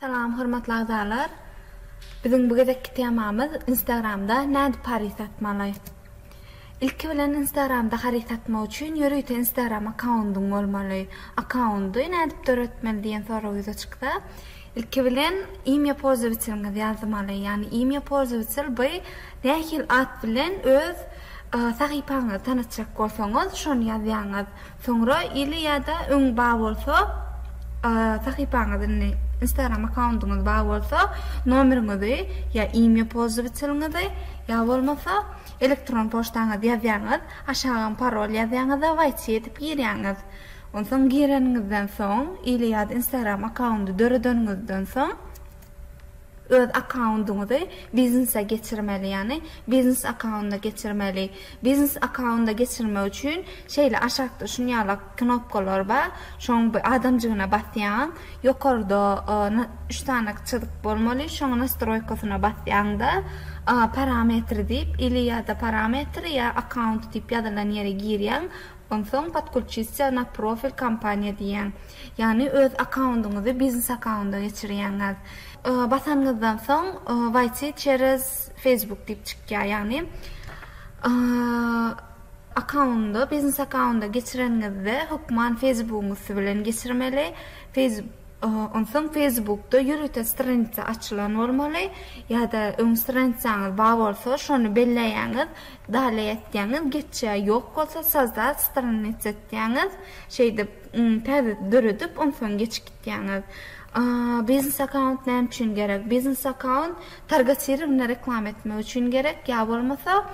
Salam hormatly agzalar. Biziň bu gezekki temamyz Instagramda nädip haryt satmaly. Ilki bilen Instagramda haryt satmak üçin ýörite Instagram akkaundyň bolmaly. Akkaundy nädip döretmeli diýen sorag ýüze çyksa, ilki bilen imýa polzowiteliňizi ýazmaly. Ýagny imýa polzowitel by nähili at bilen öz sahypaňyzy tanatjak bolsaňyz şony ýazýaňyz. Soňra ili ýa-da öň ba bolsa sahypaňyz indi instagram akkauntyňyz ba bolsa nomeriňizi ýa imýa pozwiteliňizi ýa bolmasa elektron poçtaňyzy ýazýaňyz aşagam parol ýazýaňyz a wait edip girýaňyz onsoň gireniňizden soň ili ýa-da instagram akkaunty döredeniňizden soň Öz akkaundyňyzy biznese geçirmeli, ýagny biznes akkaunda geçirmeli. Biznes akkaunda geçirmek üçin şeýle aşakda şuny ýala knopkalar bar, şoň bir adamjygyna basýaň, ýokarda üç sany çyzyk bolmaly, şoň nastroýkasyna basýaňda parametri diýip ili ýada parametri ýa akkaunt diýip ýazylan ýere girýäň, Onsoň Podkulçistja na profil kompaniýa diýýäň. Ýagny öz akkaundyňyzy biznes akkaunda geçirýäňiz. Basanyňyzdan soň Waýti çerez Facebook diýip çykýar. Ýagny akkaundy biznes akkaunda geçireniňizde hökman Facebookyň üsti bilen geçirmeli. Onsoň Facebookda ýörite stranitsa açylan bolmaly ýa-da öň stranitsaňyz bar bolsa şony belleýäňiz. Dale etýäňiz geçýä ýok bolsa sazda strannic etýäňiz şeýdip täze döredip onsoň geçip gitýäňiz. Biznes akaunt näme üçin gerek? Biznes akaunt targatirovna reklama etmek üçin gerek ýa bolmasa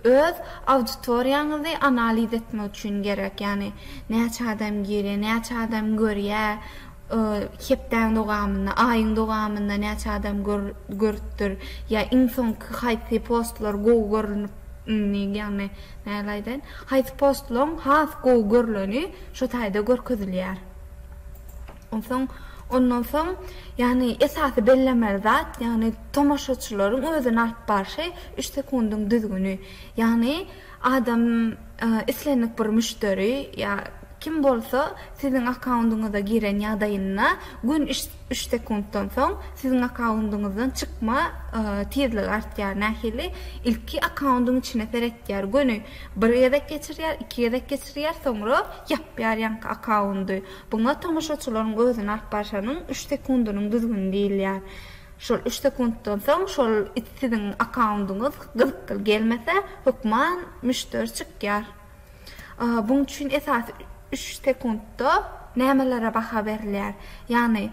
öz auditoriýaňyzy analiz etmek üçin gerek ýagny näçe adam girýä näçe adam görýä Hepdäň dowamynda, aýyň dowamynda näçe adam görüpdir? Ýa iň soňky haýsy postlar gowy görlünip, ýagny nähili aýdaýyn, haýsy postlaryň has gowy görleni şo taýda görkezilýär. Onsoň, ondan soň, ýagny esasy bellemeli zat, ýagny tomaşaçylaryň özüni alyp barşy üç sekundyň düzgüni. Ýagny. Adam islendik bir müşderi ýa kim bolsa siziň akkaundyňyza giren ýagdaýynda gün üç sekuntdan soň siziň akkaundyňyzdan çykma tizligi artýar nähili ilki akkaundyň içine seretýär göni bir gezek geçirýär iki gezek geçirýär soňra ýapýar ýaňky akkaundy buňa tomaşaçylaryň özüni alyp barşanyň üç sekundynyň düzgüni diýilýär. Şol üç sekuntdan soň şol it siziň akkaundyňyz gyzykly gelmese hökman müşderi çykýar. Buň üçin esasy üç sekuntda nämelere baha berilýär? Ýagny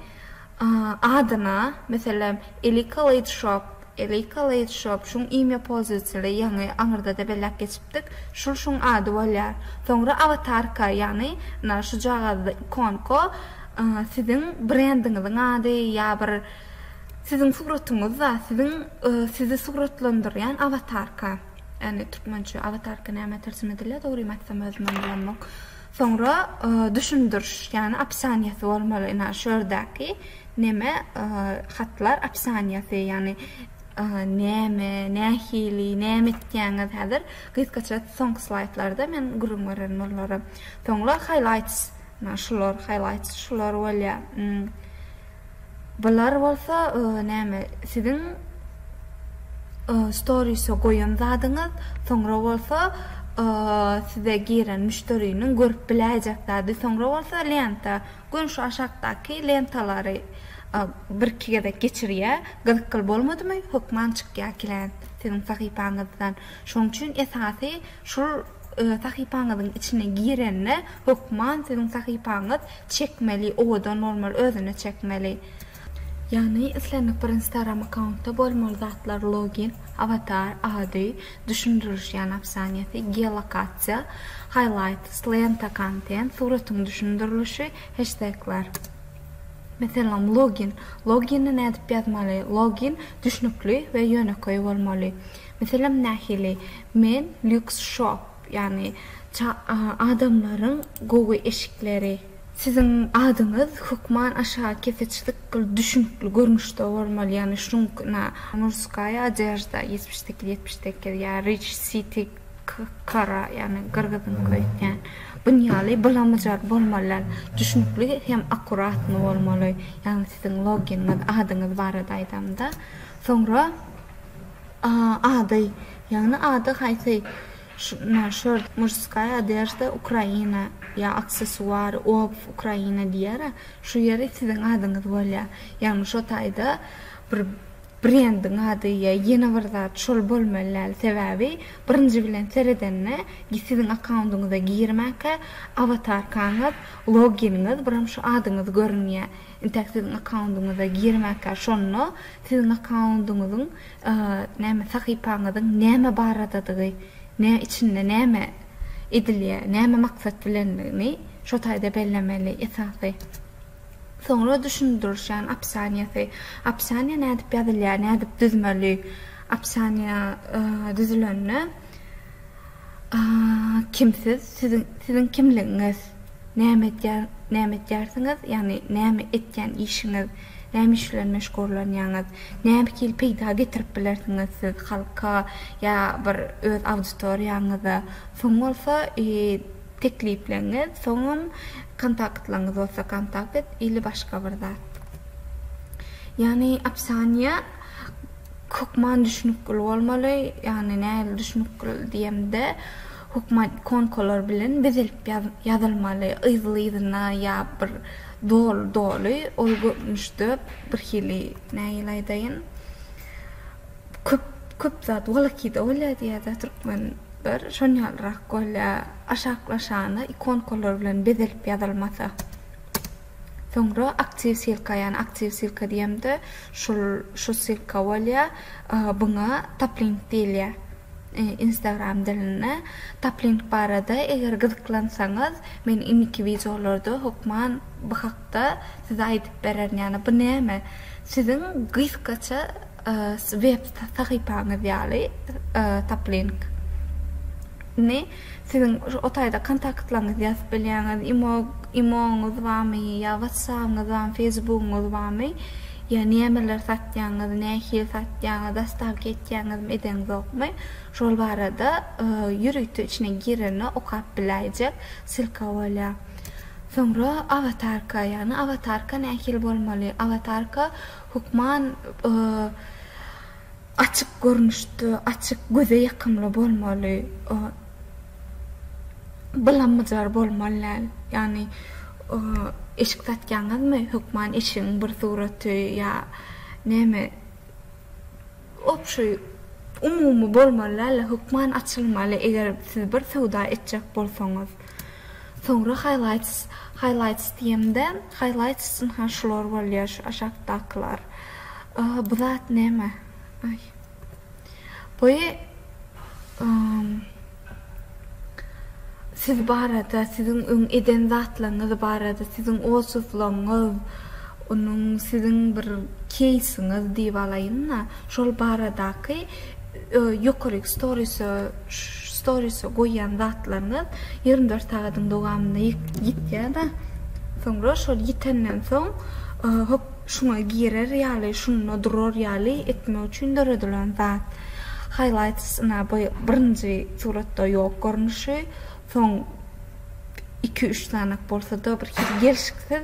adyna, meselem, Elika Late Shop, Elika Late Shop, şuň imýa polzywateli ýaňy aňyrdada belläp geçipdik, şul şuň ady bolýar. Soňra awatarka, ýagny nä şujagazda ikonka Siziň brendiňiziň ady ýa bir siziň suratyňyzda siziň sizi suratlandyrýan awatarka, ýagny türkmençe awatarka näme terjime edilýär dogrymy aýtsam özümem bilemok. Soňra düşündiriş ýagny opisianiýasy bolmaly ina şu ýerdäki neme hatlar opisianiýasy ýagny näme nähili näme etýäňiz häzir gysgaça soňky slaýdlarda men gürrüň bererin olara. Soňra highlights Mana şular highlights şular bolýa. Bular bolsa näme siziň stories-e goýan zadyňyz, soňra bolsa size giren müşderiniň görüp biläýjek zady, soňra bolsa lenta. Göni şu aşakdaky lentalary birki gezek geçirýä, gyzykly bolmadymy hökman çykýa klient siziň sahypaňyzdan. Şoň üçin esasy Şol sahypaňyzyň içine girende hökman siziň sahypaňyz çekmeli owadan bolmaly özüne çekmeli. Ýagny islendik bir instagram akkauntda bolmaly zatlar login, awatar, ady, düşündiriş ýagny opsaniýasy, geolokasiýa, highlights, lenta, kontent, suratyň düşündirilişi, heştegler. Meselem login, logini nädip ýazmaly, login düşnükli we ýönekeý bolmaly. Meselem nähili? Men lux shop, ýagny adamlaryň gowy eşikleri. Siziň adyňyz hökman aşa keseçlik gyl düşnükli görnüşde bolmaly, ýagny şunuň kna Murskaya odejda ýetmiş sekiz ýetmiş sekiz ýa Rich City Kara, ýagny gyrgyzyňky öýtýän. Bun ýaly bylamajar bolmalylar. Düşnükli hem akuratny bolmaly. Ýagny siziň loginiňiz, adyňyz barada aýdamda. Soňra. Ady, ýagny ady haýsy, na şor, murskaýa odežda Ukraina, ýa aksessuar, obww Ukraina diýer-ä, şu ýeri siziň adyňyz bolýar. Ýagny şo taýda bir brendiň ady ýa ýene bir zat şol bolmaly däl, sebäbi birinji bilen seredende siziň akkaundyňyza girmäkä awatarkaňyz, loginiňiz, biram şu adyňyz görünýär. Intäk siziň akkaundyňyza girmäkä şonda siziň akkaundyňyzyň näme sahypaňyzyň näme baradadygy nä içinde näme edilýär näme maksat bilendigini şo taýda bellemeli esasy soňra düşündirişýän opsianiýasy opsianiýa nädip ýazylýar nädip düzmeli opsianiýa düzülende. Kim siz? Siziň kimligiňiz? Näme edýärsiňiz? Ýagny näme etýän işiňiz? Näme iş bilen meşgurlanýaňyz? Näme hili peýda getirip bilersiňiz siz halka ýa bir öz auditoriýaňyza? Soň bolsa teklipleňiz, soňam kontaktlaryňyz bolsa kontakt ile başga bir zat. Ýagny opsiýa Hökman düşnükgil bolmaly, ýagny nähili düşnükgil diýemde, hökman ikonkalar bilen bezilip ýazylmaly, yzly-yzyna ýa bir doly-doly, ol görnüşde birhili nähili aýdaýyn, köp köp zat wolokida bolýar diýýärdi-ä türkmenler, şonýalrak bolýar, aşaklaşana ikonkalar bilen bezilip ýazylmasa. Soňra aktiw silka ýany aktiw silka diýemde şul şu silka bolýa buňa taplink diýilýä instagram dilinde taplink barada eger gyzyklansaňyz men indiki wideolarda hokman bu hakda size aýdyp bererin ýani bu näme siziň gysgaça Siz web sahypaňyz ýaly Taplink ni siziň o taýda kontaktlaryňyzy ýazyp bilýäňiz, imo imoňyz barmy ýa watsapyňyz barmy, feýsbugyňyz barmy, ýa nämeler satýaňyz, nähili satýaňyz, dostawka etýäňizmi, edeňzokmy, şol barada ýörite içine girende okap biläýjek silka bolýar. Soňra awatarka, ýagny awatarka nähili bolmaly, awatarka Hökman açyk görnüşde, açyk, göze ýakymly bolmaly, bylamyjar bolmaly däl. Ýagny eşik satýaňyzmy, hökman eşigiň bir suraty ýa näme, obşeý, umumy bolmaly däl-de, hökman açylmaly, eger siz bir söwda etjek bolsaňyz. Soňra highlights highlights diýemde highlights üçin ha şular bolýar şu aşakdakylar. Bu zat näme? Aý. Bu ym siz barada siziň öň eden zatlaryňyz barada siziň otuzlygyňyz onuň siziň bir keýsiňiz diýip alaýynda şol baradaky ýokaryk storysa storysa goýýan zatlaryňyz ýigrimi dört sagadyň dowamynda ýitýärda soňra şol ýitenden soň hop şuňa girer ýaly şunda durar ýaly etmek üçin döredilen zat highlights ina bu birinji suratda ýok görnüşi soň iki üç sanak bolsada bir hili gelşiksiz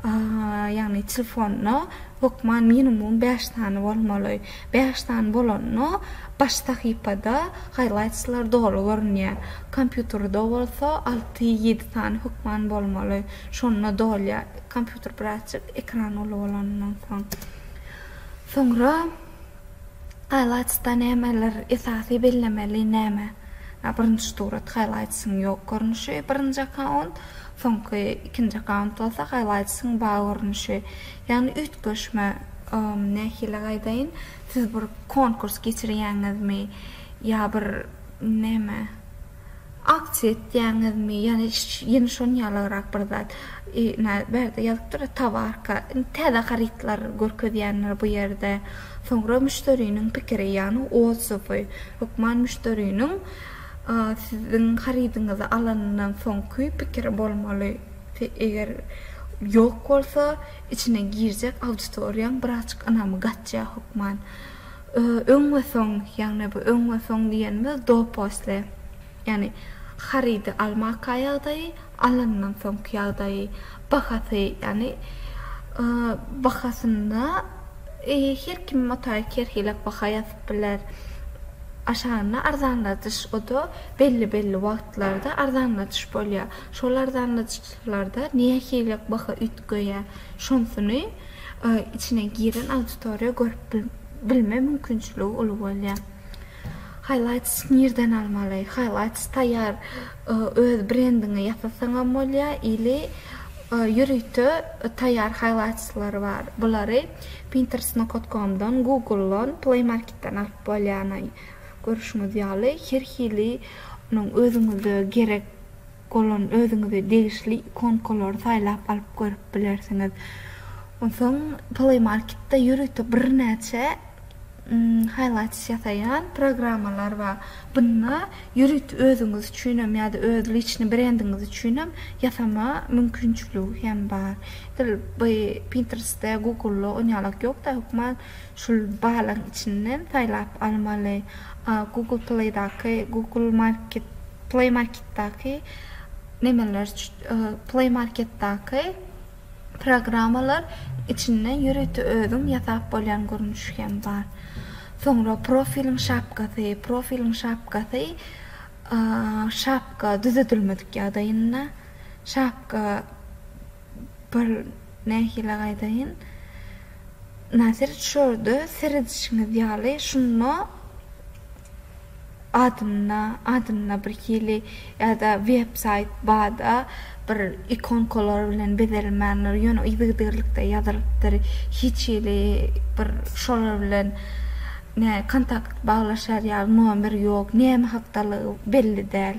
ýagny telefonyna hökman minimum bäş sany bolmaly Bäş sany bolanda baş sahypada haýlaýtslar doly görünýär. Kompýuterde bolsa alty-ýedi sany hökman bolmaly. Şonda dolýar. Kompýuter birazjyk ekran uly bolanyndan soň. Soňra haýlaýtsda nämeler esasy bellemeli näme? Ýa birinji surat haýlaýtsyň ýok görnüşi, birinji akkaunt, soňky ikinji akkaunt bolsa haýlaýtsyň bar görnüşi. Ýagny üýtgeşme, nähili aýdaýyn, siz bir konkurs geçirýäňizmi, ýa bir näme, aksiýa etýäňizmi, ýagny ýene şonuň ýalyrak bir zat. Ine, bärde ýazypdyr-a, towarka, indi täze harytlar görkezýändir bu ýerde. Soňra müşderiniň pikiri, ýagny odzowy, hökman müşderiniň siziň harydyňyzy alanyndan soňky pikiri bolmaly. Te eger ýok bolsa içine girjek auditoriýaň birazjyk ynamy gaçýar hökman. Öň we soň, ýagny bu öň we soň diýenimiz do posle. Ýagny harydy almaka ýagdaýy, alandan soňky ýagdaýy, bahasy ýagny bahasynda her kim mutaýyk her hili baha ýazyp biler. Aşagynda arzanladyş o da belli belli wagtlarda arzanladyş bolýar. Şol arzanly çykyşlarda nähili baha üýtgeýär, şonsuny içine giren auditoriýa görüp bilme mümkinçiligi uly bolýar. Highlights nirden almaly? Highlights taýýar öz brendiňi ýasasaňam bolýar ili ýörite taýýar highlights-lar bar. Bulary Pinterest nokat komdan, Google-dan, Play Market-den alyp bolýar. Görüşiňiz ýaly her hili özüňize gerek. bolan özüňize degişli ikonkalary saýlap alyp görüp bilersiňiz. Onsoň Play Market-de ýörite birnäçe highlights ýasaýan programmalar bar. Bunda ýörite özüňiz üçinem ýa-da öz liçni brendiňiz üçinem ýasama mümkinçiligi hem bar. Edil bu Pinterest-de, Google-da onýalak ýok-da, hökman Şul balyň içinden saýlap almaly. Google Playdaky, Google Market, Play Marketdaky nemeler Play Marketdaky programmalar içinden ýörite özüň ýasap bolýan görnüşi hem bar. Soňra profiliň şapkasy, profiliň şapkasy şapka düzedilmedik ýagdaýynda şapka Bir nähili gaýdaýyn? Nazir şorda seredişiňiz ýaly şunda adynda adynda bir hili ýa-da web saýt bada bir ikonkalar bilen bezelmändir ýöne yzygiderlikde ýazylypdyr hiç hili bir şolar bilen ne kontakt baglaşar ýaly nomer ýok näme hakdalygy belli däl.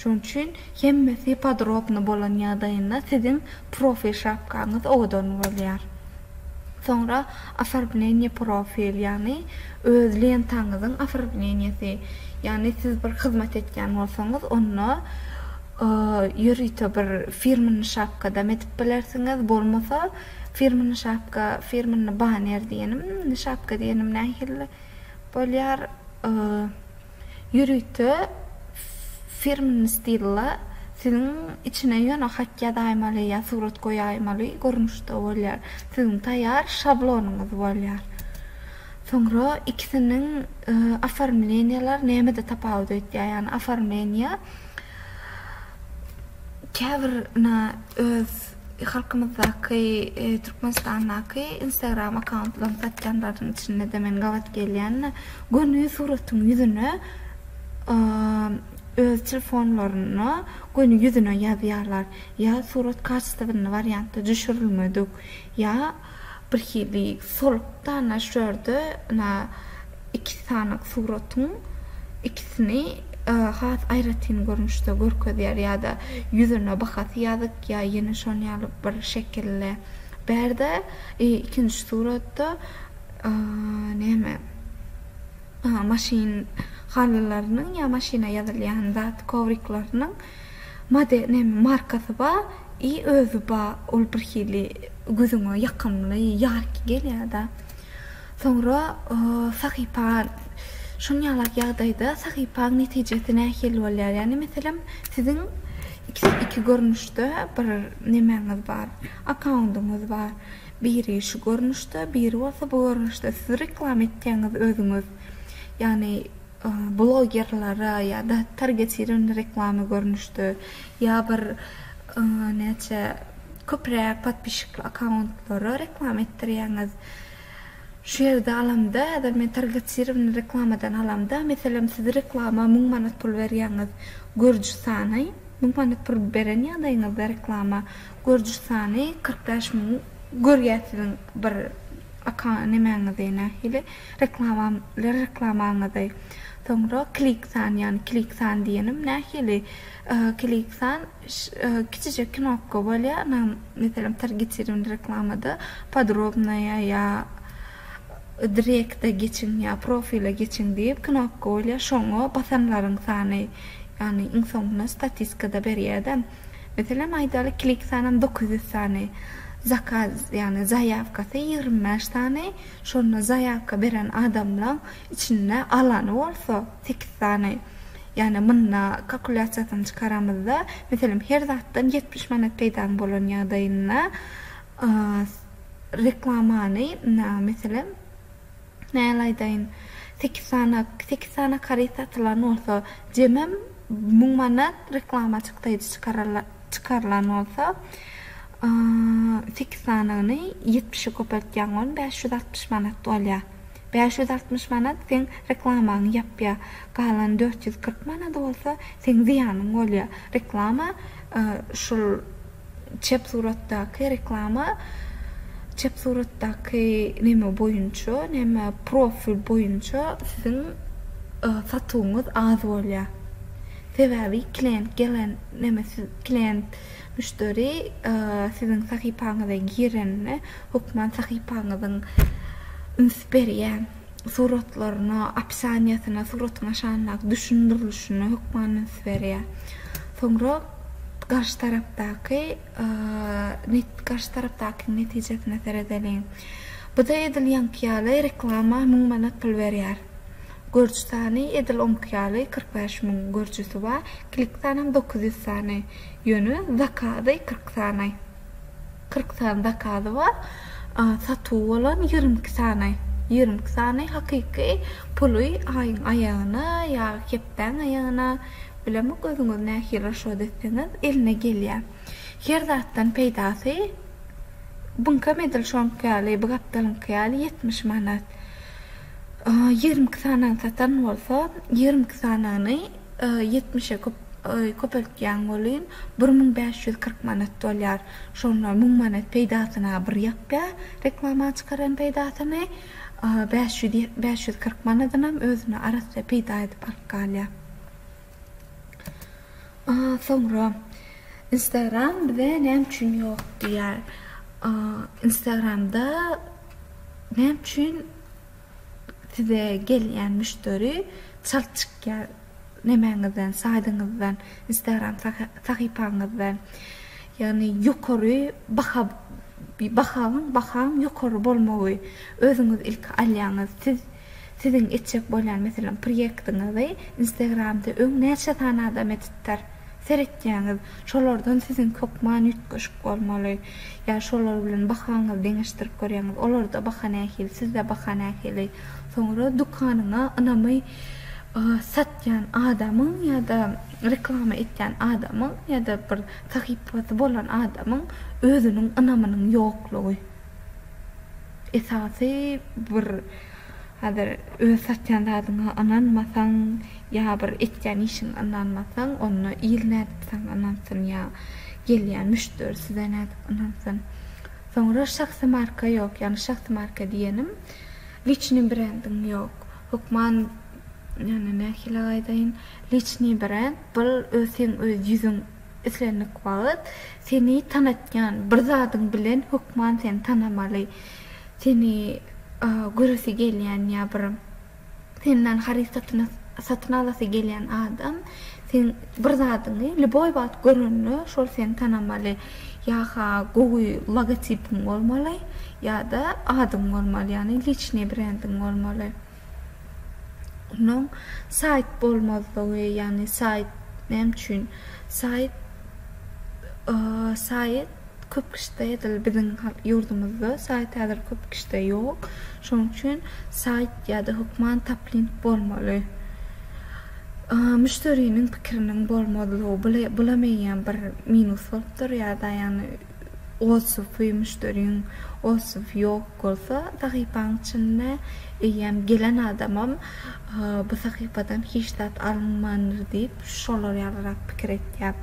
Şoň üçin hemmesi podrobny bolan ýagdaýynda siziň profil şapkaňyz owadan bolýar. Soňra Oformleniýe profil, ýagny öz lentaňyzyň oformleniýesi, ýagny siz bir hyzmat etýän bolsaňyz onda ýörite bir firmnny şapkadam edip bilersiňiz, bolmasa firmnny şapka, firmnny baner diýenim, şapka diýenim nähili bolýar? Ýörite firmn stilda siziň içine ýöne hat ýazaýmaly ýa surat goýaýmaly görnüşde bolýar. Siziň taýýar şablonyňyz bolýar. Soňra ikisiniň oformleniýalar nämede tapawut etýär? Ýagny oformleniýa käbir öz Halkymyzdaky, Türkmenistandaky Instagram akkauntlaryny satýanlaryň içinde-de men gabat gelýän-de, göni suratyň ýüzüne öz telefonlaryna göni ýüzüne ýazýarlar. Ýa surat kaçestwny wariantda düşürilmedik, ýa. Birhili solukda ana şu ýerde ana iki sanyk suratyň ikisini has aýratyn görnüşde görkezýär ýa-da ýüzüne bahasy ýazyk ýa ýene şon ýaly bir şekilde. Bärde ikinji suratda näme maşyn halylarynyň ýa maşyna ýazylýan zat kowriklarynyň model näme markasy bar. I özi ba ol bir hili gözüňe ýakymly, ýarki gelýärda. Soňra sahypa şon ýalak ýagdaýda sahypaň netijesi nähili bolýar? Ýagny meselem siziň iki görnüşde bir nemäňiz bar, akkaundyňyz bar. Biri şu görnüşde, biri bolsa bu görnüşde. Siz reklama etýäňiz özüňiz. Ýagny. blogerlere ýa-da targetirowandy reklama görnüşde ýa bir näçe köpräk podpişikli akkauntlara reklama etdirýäňiz. Şu ýerde alamda, häzir men targetirowandy reklamadan alamda, meselem, siz reklama müň manat pul berýäňiz, görüji sany, müň manat pul beren ýagdaýyňyzda reklama, görüji sany kyrk bäş müň görýär siziň bir akka nemäňizi nähili. Reklamamlar reklamaňyzy soňra klik san ýagny klik san diýenim nähili klik san kiçijek knopka bolýar ynam meselem targetirimli reklamada podrobnaýa ýa direkte geçiň ýa profile geçiň diýip knopka bolýar şoňa basanlaryň sany ýagny iň soňuna statiskada berýärde meselem aýdaly klik sanam dokuz ýüz sany zakaz ýagny zaýawkasy ýigrimi bäş sany. Şonda zaýawka beren adamlaň içinde alany bolsa sekiz sany. Ýagny munda kalkulýasiýasyny çykaramyzda, meselem, her zatdan ýetmiş manat peýdaň bolan ýagdaýynda reklamany, meselem, näl aýdaýyn, sekiz sany, sekiz sany karyt satylan bolsa, jemem müň manat reklama çykdaýjy çykararlar. çykarylan bolsa, sekiz sanyny ýetmişe köpeltýäň, on bäş ýüz altmyş manat bolýar. Bäş ýüz altmyş manat seň reklamaňy ýapýar. Galan dört ýüz kyrk manady bolsa seň zyýanyň bolýar. Reklama şul çep suratdaky reklama çep suratdaky neme boýunça, näme profil boýunça siziň satuwyňyz az bolýar. Sebäbi klient gelen Neme siz klient, müşderi, siziň sahypaňyza girende hökman sahypaňyzyň üns berýän suratlaryna, opisaniýasyna, suratyň aşagyndaky düşündirilişine hökman üns berýär. Soňra garşy tarapdaky garşy tarapdakyň netijesine seredeliň. Bu-da edil ýaňky ýaly reklama müň manat pul berýär. Görüji sany edil oňki ýaly kyrk bäş müň görüjisi bar, klik sanam dokuz ýüz sany, ýöne zakazy kyrk sany. Kyrk sany zakazy bar, satuwy bolan ýigrimi iki sany. Ýigrimi iki sany hakyky puly aýyň aýagyna ýa hepdäň aýagyna, bilemok özüňiz nähili raşod etseňiz, eline gelýär. Her zatdan peýdasy Bunkam edil şoňky ýaly, bu gapdalyňky ýaly ýetmiş manat. Ýigrimi iki sanyny satan bolsa, ýigrimi iki sanyny ýetmişe köpeltýäň welin, bir müň bäş ýüz kyrk manat bolýar. Şonda müň manat peýdasyna bir ýapýar, reklama çykaran peýdasyny, bäş ýüz kyrk manadynam özüne arassa peýda edip alyp galýar. Soňra Instagram bize näme üçin ýok diýýär. Instagramda näme üçin size gelýän müşderi çalt çykýar nemäňizden, saýdyňyzdan, Instagram sahypaňyzdan. Ýagny ýokary baha bahaň bahaň ýokary bolmagy özüňiz ilki alýaňyz. Siz Siziň etjek bolýan meselem prýektiňizi instagramda öň näçe sany adam edipdir? Seretýäňiz, şolardan siziň hökman üýtgeşik bolmaly. Ýa şolar bilen bahaňyzy deňeşdirip görýäňiz, olarda baha nähili, sizde baha nähili? Soňra dükanyňa ynamy satýan adamyň ýa-da reklama etýän adamyň ýa-da bir sahypasy bolan adamyň özüniň ynamynyň ýoklugy. Esasy bir hazir öz satýan zadyňa ynanmasaň ýa bir etýän işiňe ynanmasaň onda il nädip saňa ynansyn ýa gelýän müşderi size nädip ynansyn. Soňra şahsy marka ýok ýagny şahsy marka diýenim liçnyý brendiň ýok hökman ýagny nähili aýdaýyn liçnyý brend bir öz seň öz ýüzüň Islendik wagt seni tanatýan bir zadyň bilen hökman seni tanamaly. Seni göresi gelýän ýa bir senden haryt satyny satyn alasy gelýän adam seň bir zadyňy lýuboý wagt görende şol seni tanamaly. Ýa-ha gowy logotipiň bolmaly ýa-da adyň bolmaly ýagny liçnyý brendiň bolmaly. Onuň saýt bolmazlygy, ýagny saýt näme üçin? Saýt saýt köp kişide edil biziň ýurdumyzda saýt häzir köp kişide ýok. Şonuň üçin saýt ýa-da hökman taplink bolmaly. Müşderiniň pikiriniň bolmazlygy, bula meňem bir minus bolupdyr ýa-da ýagny Waspy, müşderiň waspy ýok bolsa, sahypaň içinde eýýäm gelen adamam bu sahypadan hiç zat alynmandyr diýip, şolar ýalyrak pikir etýär.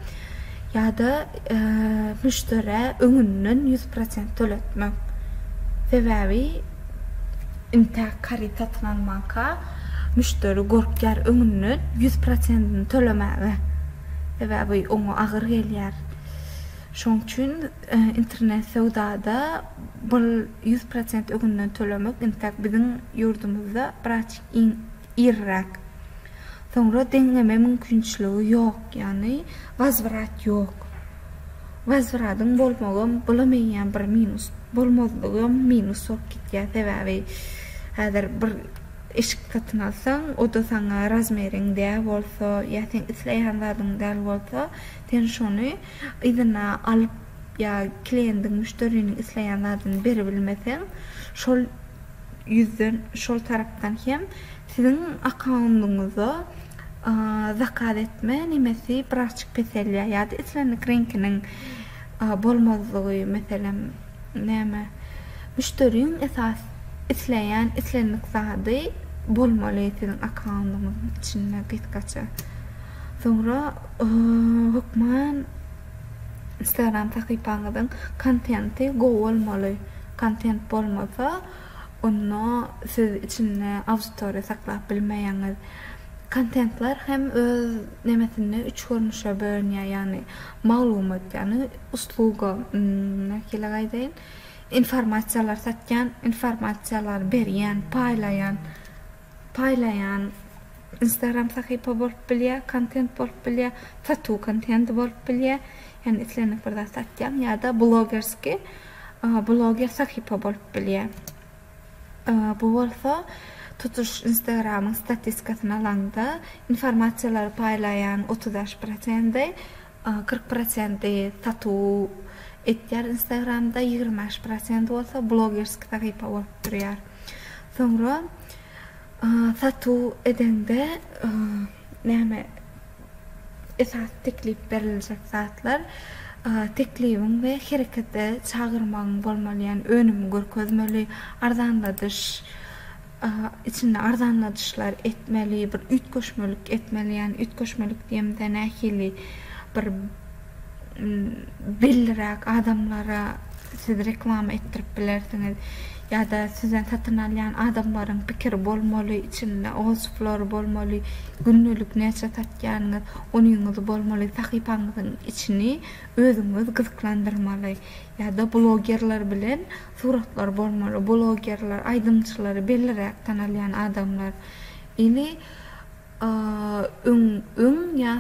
Ýa-da müşderä öňünden ýüz prosent töletmek. Sebäbi intäk haryt satyn almanka müşderi gorkýar öňünden ýüz prosentini tölemäge. Sebäbi oňa agyr gelýär. Şonuň üçin internet söwdada bul ýüz prosent öňünden tölemek intäk biziň ýurdumyzda biraz iň iriräk. Soňra deňleme mümkinçiligi ýok, ýagny wazwrat ýok. Wazwradyň bolmagam bolameýän bir minus, bolmazlygam minus bolup gitýär. Sebäbi häzir bir eşik satyn alsaň, o-da saňa razmeriň däl bolsa ýa seň isleýän zadyň däl bolsa, Sen şony yzyna alyp ýa kliendiň, müşderiniň isleýän zadyny beribilmeseň, şol ýüzden, şol tarapdan hem siziň akkaundyňyza zakaz etme nemesi birazçyk peselýär ýa-da islendik reňkiniň bolmazlygy, meselem, näme, müşderiň esas isleýän islendik zady bolmaly siziň akkaundyňyzyň içinde gysgaça. Soňra hökman Instagram sahypaňyzyň kontenti gowy bolmaly. Kontent bolmasa, onda siz içinde auditoriýa saklap bilmeýäňiz. Kontentler hem öz nemesinde üç görnüşe bölünýär, ýagny maglumat, ýagny usluga, nähili aýdaýyn, informasiýalar satýan, informasiýalar berýän, paýlaýan. paýlaýan instagram sahypa bolup bilýär, kontent bolup bilýär, satuw kontendi bolup bilýär, ýagny islendik bir zat satýaň ýa-da blogerskiý bloger sahypa bolup bilýär. Bu bolsa tutuş instagramyň statiskasyny alaňda informasiýalary paýlaýan otuz bäş prosendi Kyrk prosenti satuw etýär instagramda ýigrimi bäş prosenti bolsa blogerski sahypa bolup durýar soňra satuw edeňde näme esasy teklip beriljek zatlar teklibiň we herekete çagyrmagyň bolmaly ýagny önümi görkezmeli arzanladyş içinde arzanladyşlar etmeli, bir üýtgeşmelik etmeli, ýagny üýtgeşmelik diýemizde nähili bir belliräk adamlara siz reklama etdirip bilersiňiz ýa-da sizden satyn alýan adamlaryň pikiri bolmaly, içinde otsuplary bolmaly, gündelik näçe satýanyňyz, onyňyzy bolmaly, sahypaňyzyň içini özüňiz gyzyklandyrmaly ýa-da blogerler bilen Suratlar bolmaly, blogerler, aýdymçylary belliräk tanalýan adamlar ili öň öň ýa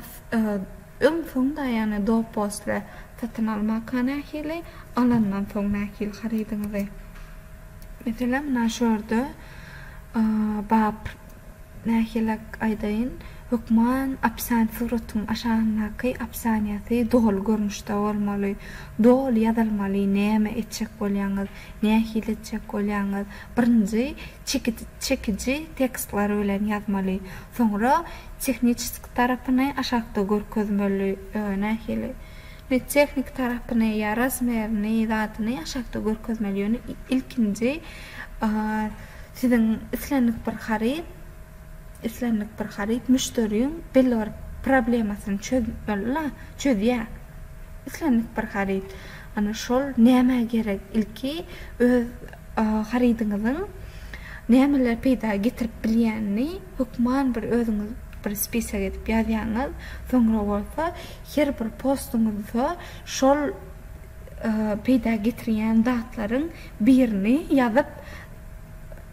öň soň da ýagny do posle satyn almaka nähili alandan soň nähili harydyňyzy meselem na şu ýerde bap Nähilek aýdaýyn, hökman opisiant suratyň aşagyndaky opisianiýasy doly görnüşde bolmaly. Doly ýazylmaly näme etjek bolýaňyz, nähili etjek bolýaňyz. Birinji çekidi çekiji tekstler bilen ýazmaly. Soňra tehniçeski tarapyny aşakda görkezmeli. Ýöne nähili ne tehniki tarapyny ýa razmerini zadyny aşakda görkezmeli. Ýöne ilkinji Siziň islendik bir haryt islendik bir haryt müşderiň belli bir problemasyny çözmeli-la, çözýär. Islendik bir haryt. Ana şol nämä gerek? Ilki öz harydyňyzyň nämeler peýda getirip bilýänini hökman bir özüňiz bir spisok edip ýazýaňyz, soňra bolsa her bir postuňyzda şol peýda getirýän zatlaryň birini ýazyp,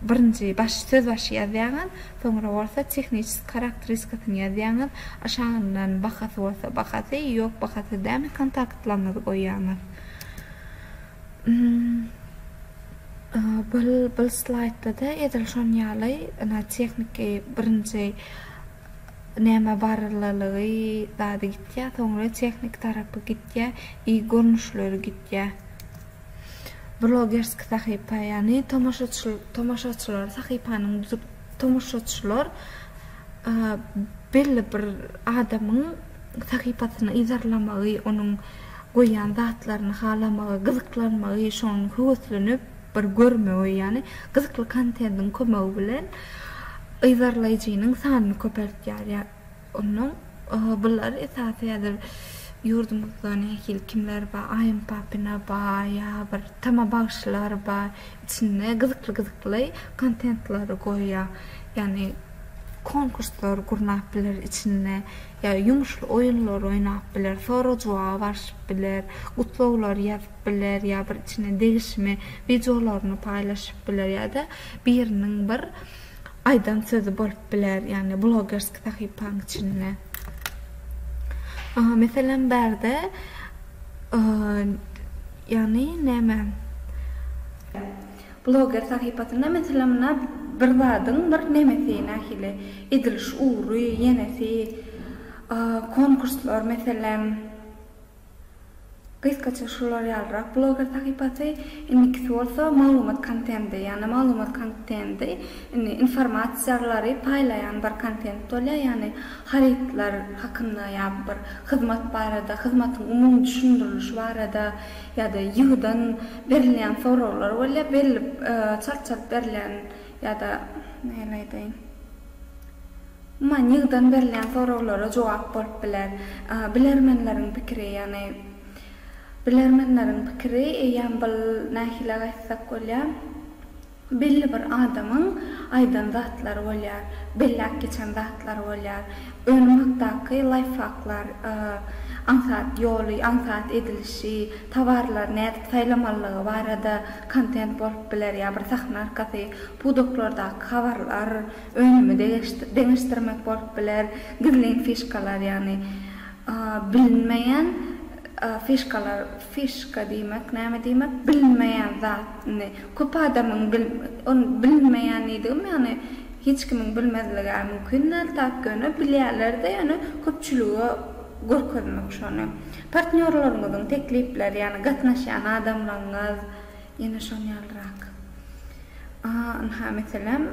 birinji baş söz başy ýazýaňyz, soňra bolsa tehniçeski karakteriskasyny ýazýaňyz, aşagyndan bahasy bolsa bahasy, ýok bahasy däl kontaktlaryňyzy goýýaňyz. Bul slaýdda-da edil şonuň ýaly, ynha tehniki birinji Näme barylygy zady gitýä soňra tehnik tarapy gitýä i görnüşleri gitýä. Blogerski sahypa ýany tomaşaçylar sahypanyň tomaşaçylar belli bir adamyň sahypasyny yzarlamagy onuň goýýan zatlaryny halamagy gyzyklanmagy şoň höweslenip. Bir görmegi, ýagny gyzykly kontentiň kömegi bilen yzarlaýjynyň sanyny köpeltýär. Ýa onnoň bular esasy häzir ýurdumyzda nähili kimler bar, Aýym Papina bar, ýa bir Tama bagşylar bar, içinde gyzykly gyzykly kontentlary goýýar. Ýagny konkurslar gurnap biler içinde, ýa ýumuşly oýunlar oýnap biler, sorag-jogaba barşyp biler, gutlaglar ýazyp. biler ýa bir içine degişme wideolaryny paýlaşyp biler ýa-da biriniň bir aýdan sözi bolup biler ýagny blogerski sahypaň içinde. Meselem bärde ýagny näme. Bloger sahypasynda meselem munna bir zadyň bir nemesi nähili ediliş ugry ýenesi konkurslar meselem. Gysgaça şular ýalyrak bloger sahypasy, indikisi bolsa maglumat kontendi, ýagny maglumat kontendi indi informasiýalary paýlaýan bir kontent bolýar, ýagny harytlar hakynda ýa bir hyzmat barada, hyzmatyň umumy düşündirilişi barada ýa-da ýygydan berilýän soraglar bolýar, berilip çalşylyp berilýän ýa-da nähili aýdaýyn. Umuman, ýygydan berilýän soraglara jogap bolup biler. Bilermenleriň pikiri, ýagny bilermenleriň pikiri eýýäm bu nähili-ä aýtsak bolýar, belli bir adamyň aýdan zatlary bolýar, belläp geçen zatlary bolýar. Önüm hakdaky laýfhaklar, aňsat ýoly, aňsat edilişi, towarlary nädip saýlamalydygy barada kontent bolup biler ýa bir sahna arkasy pudaklardaky habarlar, önümi deňeşdirmek bolup biler, gizlin fişkalar, ýagny bilinmeýän fişkalar, fişka diýmek näme diýmek, bilinmeýän zatny köp adamyň ony bilinmeýänlidigim ýagny hiç kimiň bilmezligi-ä mümkin däl, tak ýöne bilýärler-de ýöne köpçülige görkezmek şony. Partnýorlaryňyzyň teklipleri, ýagny gatnaşýan adamlaryňyz, ýene şoň ýalyrak. A, ynha, meselem,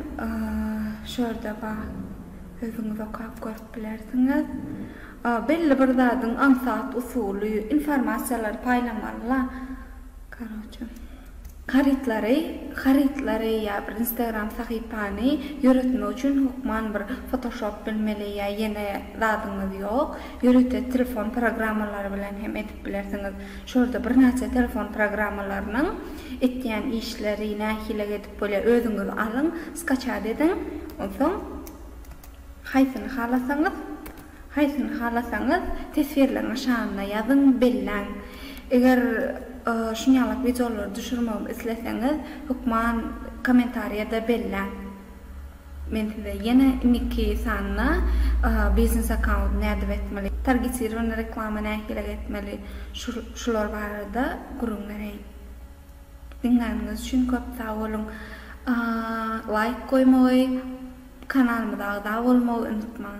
şu ýerde bar. Özüňiz okap görüp bilersiňiz. Belli bir zadyň aňsat usuly, informasiýalary paýlamaly-la, karoçe. Harytlary harytlary ýa bir instagram sahypany ýöretmek üçin hokman bir fotoshop bilmeli ýa ýene zadyňyz ýok ýörite telefon programmalary bilen hem edip bilersiňiz şurada birnäçe telefon programmalarynyň etýän işleri nähilek edip bolýar özüňiz alyň skaçat ediň onsoň haýsyny halasaňyz Haýsyny halasaňyz teswirleň aşagynda ýazyň, belläň. Eger şuny ýalyk wideolary düşürmegimi isleseňiz hökman komentarýada belläň. Men size ýene indiki sanda biznes akaunt nädip etmeli, targetirowany reklama nähilek etmeli şular barada gürrüň bereýin. Diňläniňiz üçin köp sag boluň. Laýk goýmagy, kanalymyza agza bolmagy unutmaň.